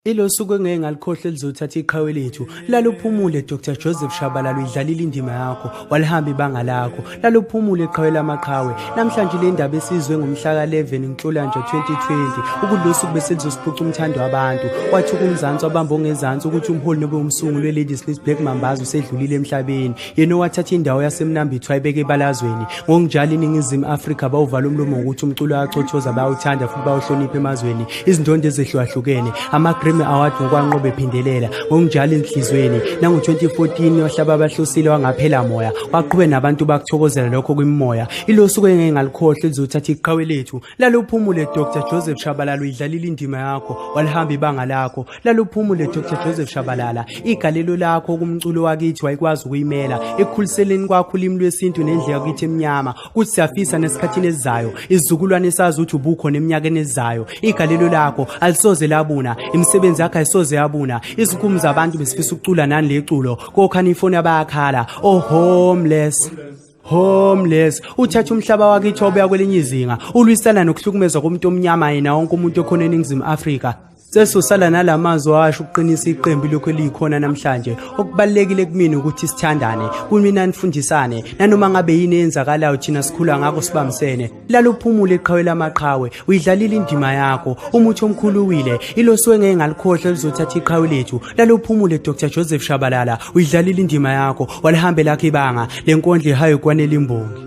Ilo suku engeke ngalikhohle lizothatha iqhawe lethu. Laluphumule Dr Joseph Shabalala idlalile indima yakho, walihamba ibanga lakho. Laluphumule iqhawe lamaqhawe. Namhlanje le ndaba esizwe ngomhla ka-11 Nhlolanja 2020 ukulosuku beselizosiphuca umthando wabantu. Wathi kumzansi wabamba ongezansi ukuthi umholi nobe umsunguli we-Ladies List Black Mambazo usedlulile emhlabeni. yena owathatha indawo yasemnambitho ayibeke ebalazweni ngokunjalo iningizimu afrika bawuvala umlomo ngokuthi umculo ayacothoza bayawuthanda futhi bawuhlonipha emazweni izindondo ezehlukahlukene ama-grammy award ngokwanqobe ephindelela ngokunjalo enhlizweni nango-2014 wahlaba abahlosile wangaphela moya waqhube nabantu bakuthokozela lokho kwimimoya ilosuku engeke ngalikhohle lizothatha iqhawe lethu Lala uphumule Dr Joseph Shabalala uyidlalile indima yakho walihamba ibanga lakho Lala uphumule Dr Joseph Shabalala igalelo lakho kumculo wakithi wayikwazi ukuyimela ekukhuliseleni kwakho ulimi lwesintu nendle yakithi emnyama kuthi siyafisa nesikhathini esizayo izizukulwane esazi ukuthi ubukho neminyakeni ezayo igalelo lakho alisoze labuna imisebenzi yakho ayisoze yabuna izinkumu zabantu besifisa ukucula nani leculo kokhani ifoni abayakhala oh homeless homeless uthatha umhlaba wakithi obuya kwelinye izinga ulwisana nokuhlukumezwa komuntu omnyama yena wonke umuntu okhona eningizimu afrika sesosala nala mazwi washo ukuqinisa iqembu lokhu eliyikhona namhlanje okubalulekile kumina ukuthi sithandane kumina nifundisane nanoma ngabe yini eyenzakalayo thina sikhula ngako sibambisene laluphumule iqhawe lamaqhawe uyidlalile indima yakho umuthi omkhulu uwile ilosiwe ngeke ngalikhohle lizothatha iqhawe lethu laluphumule dr joseph shabalala uyidlalile indima yakho walihambe lakho ibanga le nkondla ihayo kwanelimbongi